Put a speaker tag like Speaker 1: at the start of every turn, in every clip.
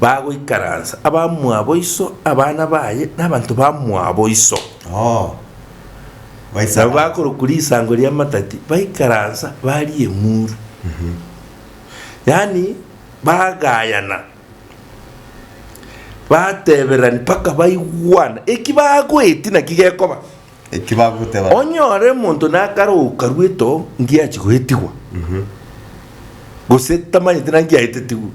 Speaker 1: bagoikaransa, abamwabo iso, abana baye, na abanto bamwabo iso. Oo. Nabo Baisaba. bakorokwa risango ri'amatati, baikaransa, baria emuru. Yaani, bagayana, batebererani mpaka baigwana. Eki bagoeti naki gekoba. Eki bagoteba.
Speaker 2: Onyore monto
Speaker 1: nakaroka rweto ngiachie goetigwa, gose tamanyete naki aetetigwe,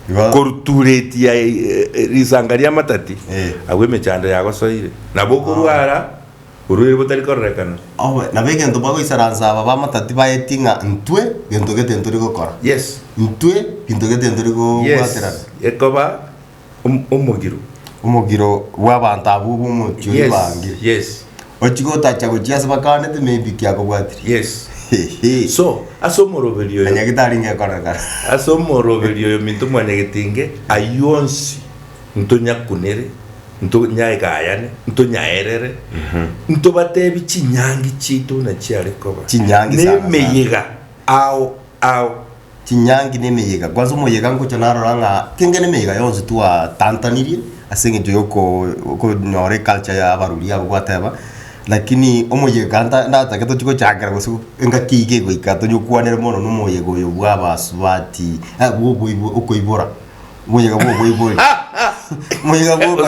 Speaker 1: Igo. koruturetia e- e- risanga ri'amatati, Eh. agwo emechando yagosoire, nabo okorwa ara orwaire botari kororekana. Obe, nabo egento
Speaker 2: bagoisaransa aba b'amatati baeti ng'a intwe gento gete ntori gokora. Yes. Intwe ginto gete ntori Yes. gobwaterana. Ekoba
Speaker 1: Om- omogiro
Speaker 2: omogiro bw'abanto abwo b'omochie Yes, oibangire yes. ochia gotacha gochia ase bakaanete maybe ki akobwatire yes Hehe. so
Speaker 1: ase omoroberi oyo nyagitari
Speaker 2: ngekorekana ase omoroberi
Speaker 1: oyo minto mwanyagetinge aywo onsi ntonyakunere ntonyagayane ntonyaerere ntobatebi chinyangi chiaito buna chiare koba Chinyangi sana sana. nemeyega ao ao
Speaker 2: chinyangi n'emeyega. Kwanza omoyega ngocha narora ng'a kengene emeyega yonsi twatantanirie ase eng'encho ya oko- okonyora eculture ya abarwri abwo gwateba, lakini omoyega nta- ndatake tochi gochakera gose engaki iga egoika tonya okwanere mono na omoyega oyo bwa abasubati eh bwa oboibo okoibora, omoyega bwa oboibori omoyega bwa okoibo.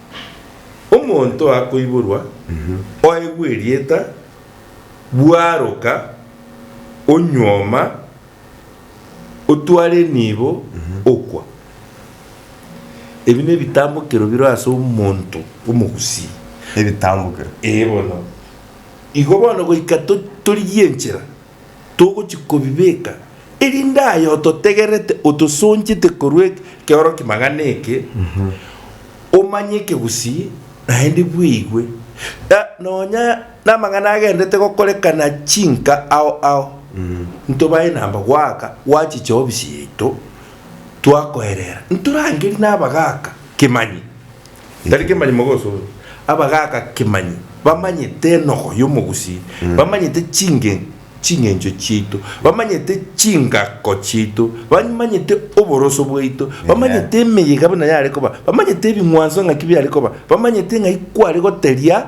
Speaker 1: Omonto akoiborwa, oegwe erieta, bwaroka, onyuoma, otware enibo, okwa. Ebi nebitambokero biro ase omonto omogusii. Ebitambokero.
Speaker 2: Ee bono.
Speaker 1: Igo bono goika to- torigie enchera. togochia kobibeka, erinde aye ototegerete, otosonchete korwa ekeoroki magana eke, omanyeke gusii, naende bweigwe, na nonya namang'ana agenderete gokorekana chinka ao ao, ntobae namba goaka gwachi chiobisi yaito, twakoerera, ntorangerie nabagaaka kemanyi. Tari kemanyi mogosore. Abagaaka kemanyi bamanyete enogo y'omogusii, bamanyete chinge ching'encho chiaito, bamanyete chingako chiaito, bamanyete oboroso bwaito, bamanyete emeyega buna yare koba, bamanyete ebing'wanso ng'aki biare koba, bamanyete ng'ai kware goteria.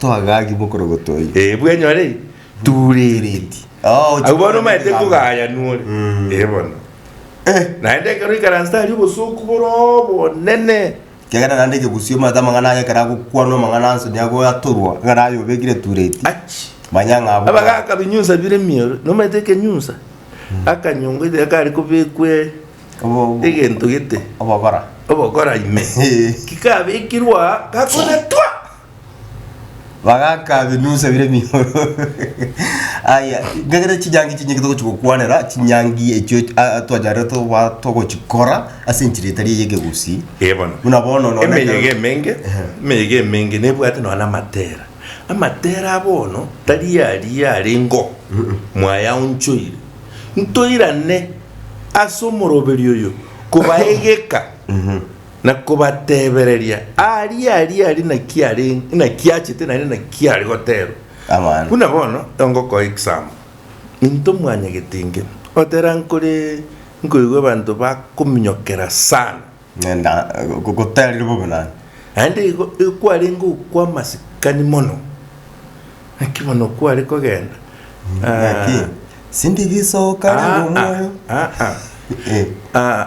Speaker 1: Twagagigwa
Speaker 2: okorogotwa oyi. Ee, bwenyore
Speaker 1: tuureti. Oh, Abwo bono omaete kogaya nore. Mm. Ee bono. Eh. Naende ekero oikaranste aria obosooku bore obonene. Kiagera naende ekegusii
Speaker 2: omanyete amang'ana aya ekero agokwanwa amang'ana onsi nigo agoatorwa ekero aye obekire etureti. Achi. Manya ng'a abwo. Abagaka binyunsa bire
Speaker 1: emioro. Nomaete ekenyunsa? Akanyongo ite kare kobekwe Obo- egento gete. Obogora. Obogora ime. Kikabekirwe aa, gakonetwa.
Speaker 2: bagakabinusa bire mihoro aya ngegera chinyangi chinyinge togochi gokwanera chinyangi echio a- twacharete toba togochikora ase enchera etari ey'ekegusii Eh, bono. buna bono
Speaker 1: nonye- emeyega
Speaker 2: emenge
Speaker 1: emeyega emenge nebwate nonya na amatera amatera a bono tari aria are ngo mwayaonchoire ntoirane ase omoroberi oyo kobaegeka na kobatebereria, Aria, aria, aria naki are, naki achete, naende naki are goterwa. Abana.
Speaker 2: Buna bono
Speaker 1: ongokoa egesamu, into mwanyagete inge, otera nkore nkoigwa abanto bakominyokera sana. Ng'enda
Speaker 2: gogoterire bobe naye. Naende igo
Speaker 1: ekwarenge okwa amasikani mono, naki bono kware kogenda. Naki, Ah,
Speaker 2: sindi gisoka ah, ah, riromoyo. ah, ah. Eh. Ah,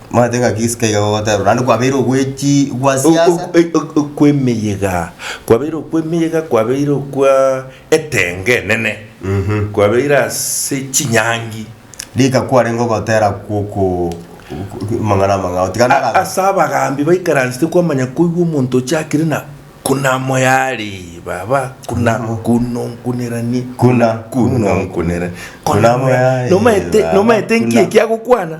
Speaker 1: Mwanyabanto ng'a ki isiko iga
Speaker 2: gogoteberwa, naende kwabeire ogwechi gwa siasa? O- o- o- okw'emeyega
Speaker 1: kwabeire okw'emeyega kwabeire okwa etenge enene kwabeire ase chinyangi Rika kwarenge
Speaker 2: ogotera kw'oko amang'ana amang'ao, tiga narabe. ase abagambi
Speaker 1: baikaransete kwamanya koigwa omonto ochakire na kuna moyaree baba kuna kunonkuneranie Kuna,
Speaker 2: kunonkuneranie
Speaker 1: kuna moyaree,
Speaker 2: nomaete baba, nomaete
Speaker 1: nki kuna. ekiagokwana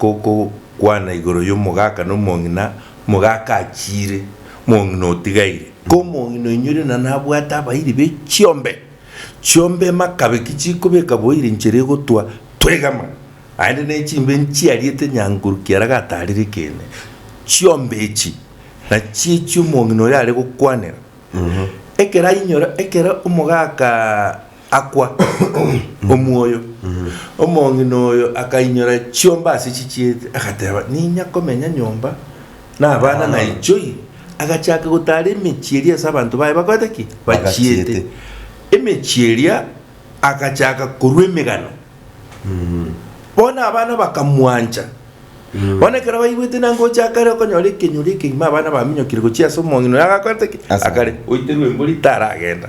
Speaker 1: gokokwana igoro y'omogaka nomong'ina, omogaka achiire, omong'ina otigaire. Omong'ina oinyore na nabwate abairi be chiombe chiombe emakabeki chikobeka boiri nchera egotwa twegama, naende ne chimbe nchiariete nyangoru kiara gatarire kene. Chiombe echi nachio echio omong'ina oyo are gokwanera. Ekero ainyora, ekero omogaka. akwa omwoyo. Omong'ina oyo akainyora chiomba ase chichiete, agateba, Ninya komenya nyomba nabana naichoi. Agachaka gotaara emechie eria ase abanto baye bakorete ki? Bachiete. Emechie eria agachaka korua emegano. Bono abana bakamwancha. Bono ekero baigwete nangocha akare okonyora ekenyoro ekegima abana baminyokire gochia ase omong'ina oyo agakorete ki? Akare. Oite rwembo rita aragenda.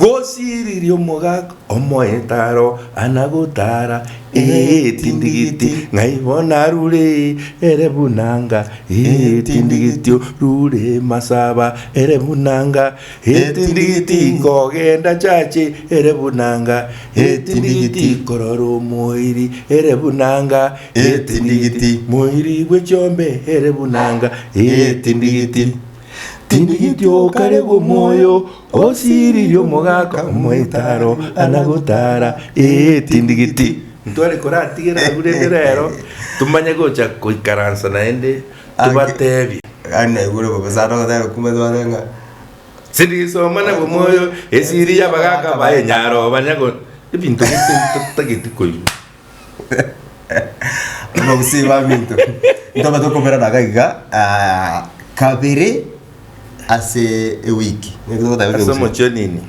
Speaker 1: Gosiriria omogaka omoetaro ana gotara etindigiti, ng'ai bono arure ere buna nga etindigiti orure masaba ere buna nga etindigiti kogenda chache ere buna nga etindigiti korora omoiri ere buna nga etindigiti moiri bwe chiombe ere buna nga etindigiti tindigiti okaregwe omoyo Osiririe omogaka omoitaro ana gotara, ee, tindigiti. Ntware koratigere agwo rende rero tomanye gocha koikaransa naende tobatebie. Gaki naigure
Speaker 2: bobe sana ogoteba kumbe tware ng'a. Sirisoma
Speaker 1: na bomoyo esiri y'abagaka baye nyaroba nyago ebinto ebinto totageti koigwa.
Speaker 2: Abagusii baminto, ntobate okoberana iga iga ah, kabere ase ewiki. Naki togoteba Ase Abagusii?
Speaker 1: omochonini.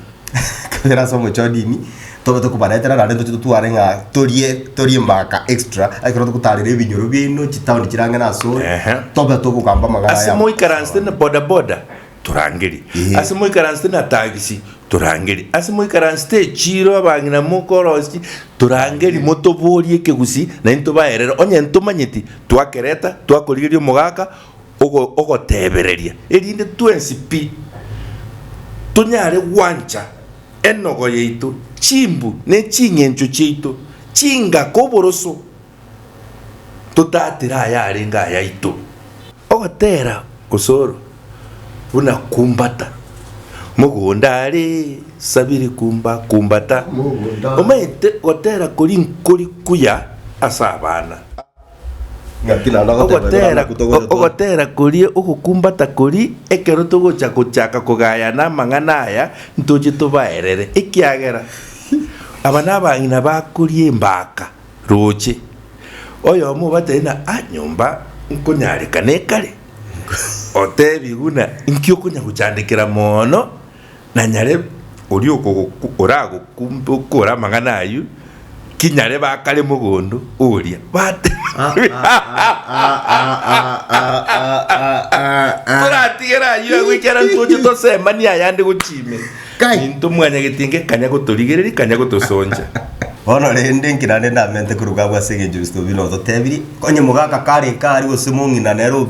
Speaker 1: kabere ase
Speaker 2: omochonini tobate kobaretera naende ntoche totware ng'a torie torie mbaka extra ekero togotarera ebinyoro biaino chitaoni chire ang'e na ase ore Ehe. tobate okogamba amang'ana ase aya. moikaransete na
Speaker 1: bodaboda torangeri, Ee. ase moikaransete na tagisi, torangeri, ase moikaransete echiiro abang'ina mokorosi, torangeri, motoboorie ekegusii na intwe baerere, onye ntomanyeti twakereta, twakorigeria omogaka ogo- ogotebereria, erinde twensi pi tonyare gwancha enogo yaito, chimbu, ne ching'encho chiaito, chingaka, oboroso, totatera ayarenge ayaito. Ogotera osoro buna kumbata mogonda are sabiri kumba kumbata, omanyete gotera kori nkori kuya ase abana.
Speaker 2: Ogotera
Speaker 1: koria ogokumbata kori ekero togocha gochaka kogayana amang'ana aya ntoche tobaerere, ekiagera aba nabang'ina bakoria embaka Roche, oyomo obatebie na a nyomba nkonyareka nekare, otebie buna inki okonya gochandekera moono, na nyare oria okogoku oragokumbokoore amang'ana ayio, ki nyare bakare mogondo oria batebie toratigere ayio agwo ekiagera ntoche tosemanie ayande gochia ime. Kai! Ninto mwanyagete inke kanya gotorigereria, kanya gotosoncha. Bono rende,
Speaker 2: nki naende ndamente koruga abwo ase egencho Kristo buna ototebirie? Onye mogaka kare eke aria gose mong'ina nere o-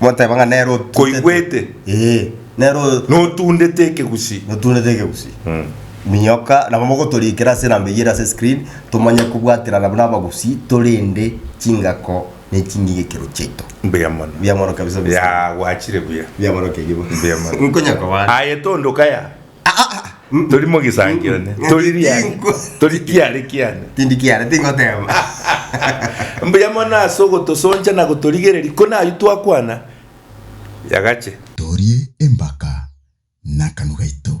Speaker 2: moteba ng'a nere otutete. Koigwete.
Speaker 1: Ee, nere o-
Speaker 2: Notundete
Speaker 1: ekegusii. notundete ekegusii. Mm. Minyoka
Speaker 2: nabo mogotorikera ase enamba eyio ere ase screen, tomanye kobwaterana buna abagusii torende chingako ne ching'ige ekero chiaito. Mbuya mono. Mbuya mono kabisa Mr. Ya gwachire buya.
Speaker 1: Mbuya mono kegio bono. Mbuya
Speaker 2: mono. Nkonya
Speaker 1: kobana. Aye
Speaker 2: tondo kaya. Ah,
Speaker 1: ah, ah. Mm. Tori mogisangio ne. Mm. Tori riani. Tinko. Tori kiare kiane. Tindi kiara tingoteba. Mbuya mono ase ogotosoncha na gotorigereria ko nayio twakwana.
Speaker 3: Yagache.
Speaker 1: Torie
Speaker 3: embaka nakanwa gaito.